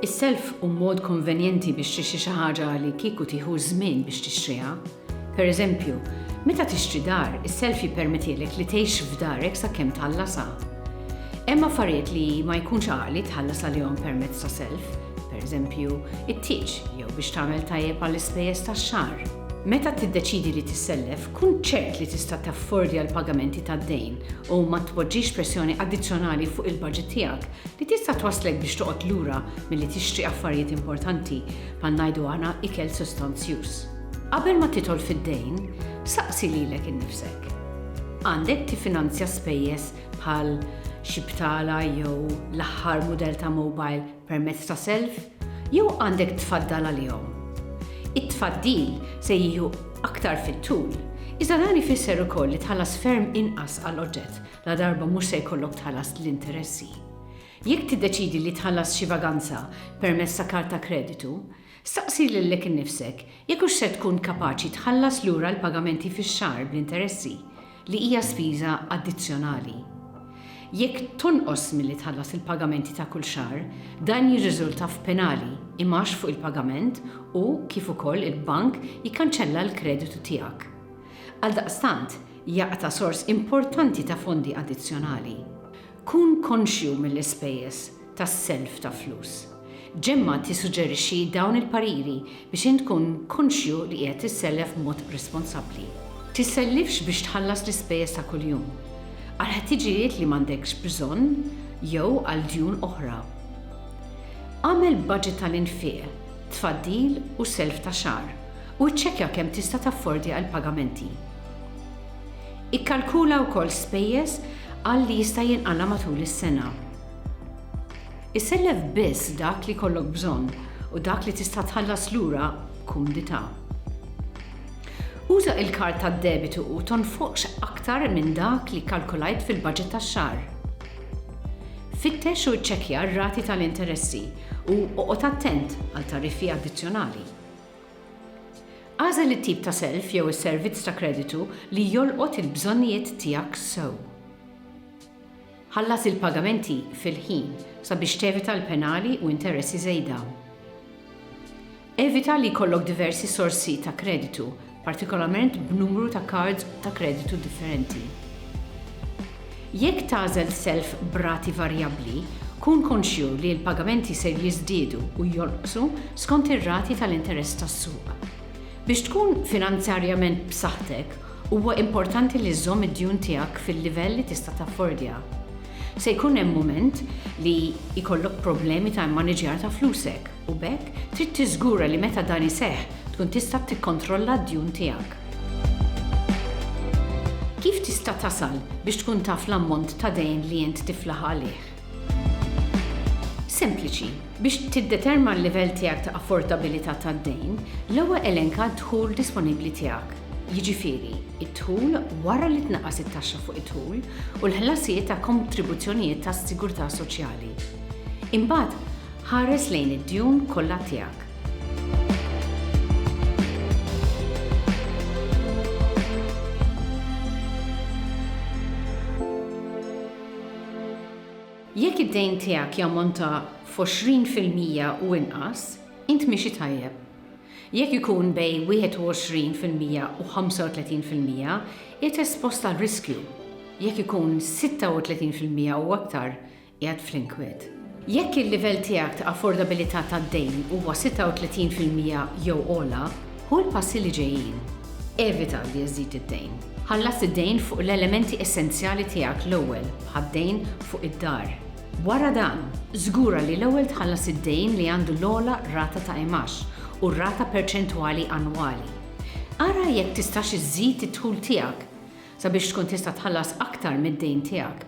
Is-self hu mod konvenjenti biex tixtri xi ħaġa li kieku tieħu ż-żmien biex tixtriha. Pereżempju, meta tixtri dar, is-self jippermettilek li tgħix f'darek sakemm tħallasha. Hemm affarijiet li ma jkunx għaqli tħallas għalihom permezz ta' self, pereżempju, it-tieġ jew biex tagħmel tajjeb għall-ispejjeż tax-xahar. Meta tiddeċiedi li tissellef, kun ċert li tista' taffordja l-pagamenti tad-dejn u ma tpoġġix pressjoni addizzjonali fuq il-baġit tiegħek li tista' twasslek biex toqgħod lura milli tixtri affarijiet importanti, bħal ngħidu aħna ikel sustanzjuż. Qabel ma tidħol fid-dejn, saqsi lilek innifsek, Għandek tiffinanzja spejjeż bħal xi btala jew l-aħħar mudell ta' mobile permezz ta' self, jew għandek tfaddal għalihom. It-tfaddil se jieħu aktar fit-tul, iżda dan ifisser ukoll li tħallas ferm inqas għal oġġett ladarba mhux se jkollok tħallas l-interessi. Jekk tiddeċiedi li tħallas xi vaganza permezz ta' karta kreditu, Staqsi lilek innifsek jekk hux ser tkun kapaċi tħallas lura l-pagamenti fix-xahar bl-interessi, li hija spiża addizzjonali. Jekk tonqos milli tħallas il-pagamenti ta' kull xahar, dan jirriżulta f'penali, imgħax fuq il-pagament u, kif ukoll, il-bank jikkanċella l-kreditu tiegħek. Għaldaqstant, jaqta' sors importanti ta' fondi addizzjonali. Kun konxju mill-ispejjeż. ta' self ta' flus. Gemma tissuġġerixxi dawn il-pariri biex int tkun konxju li qiegħed issellef b'mod responsabbli. Tissellifx biex tħallas l-ispejjeż ta' kuljum, għal ħtiġijiet li m'għandekx bżonn jew għal djun oħra. Agħmel baġit tal-infiq, tfaddil u self ta' xahar u ċċekkja kemm tista' taffordja l-pagamenti. Ikkalkula wkoll spejjeż għal li jista' jinqala' matul is-sena. Isellef biss dak li jkollok bżonn u dak li tista' tħallas lura b'kumdità. Uża l-kard tad-debitu u tonfoqx aktar minn dak li kkalkulajt fil-baġit tax-xahar. Fittex u ċċekkja r-rati tal-interessi u oqgħod attent għal tariffi addizzjonali. Agħżel it-tip ta' self jew is-servizz ta' kreditu li jolqot il-bżonnijiet tiegħek sew. Ħallas il-pagamenti fil-ħin sabiex tevita l-penali u interessi żejda. Evita li jkollok diversi sorsi ta' kreditu, partikolarment b'numru ta' kards ta' kreditu differenti. Jekk tagħżel self b'rati varjabbli, kun konxju li l-pagamenti ser jiżdiedu u jonqsu skont ir-rati tal-interess tas-suq. Biex tkun finanzjarjament b'saħħtek, Huwa importanti li żżomm id-djun tiegħek fil-livell li tista' taffordja. Se jkun hemm mument li jkollok problemi ta' immaniġjar ta' flusek, u b'hekk trid tiżgura li meta dan iseħħ tkun tista' tikkontrolla d-djun tiegħek. Kif tista' tasal biex tkun taf l-ammont ta' dejn li int tiflaħ għalih? Sempliċi, biex tiddetermna l-livell tiegħek ta' affordabilità tad-dejn, l-ewwel elenka d-dħul disponibbli tiegħek, jiġifieri, id-dħul wara li tnaqqas it-taxxa fuq id-dħul u l-ħlasijiet ta' kontribuzzjonijiet tas-sigurtà soċjali. Imbagħad, ħares lejn id-djun kollha tiegħek. Jekk id-dejn tiegħek jammonta f'għoxrin fil-mija u inqas, int miexi tajjeb. Jekk ikun bejn wieħed u għoxrin fil-mija u ħamsa u tletin fil-mija, qiegħed espost għal riskju. Jekk ikun sitta u tletin fil-mija u aktar, qiegħed fl-inkwiet. Jekk il-livell tiegħek ta' affordabilità tad-dejn huwa 36 fil-mija jew ogħla, ħu l-passi li ġejjin. Evita li żżid id-dejn. Ħallas id-dejn fuq l-elementi essenzjali tiegħek l-ewwel, bħad-dejn fuq id-dar. Wara dan, żgura li l-ewwel tħallas id-dejn li għandu l-ogħla rata ta' imgħax u r-rata perċentwali annwali. Ara jekk tistax iżżid id-dħul tiegħek sabiex tkun tista' tħallas aktar mid-dejn tiegħek.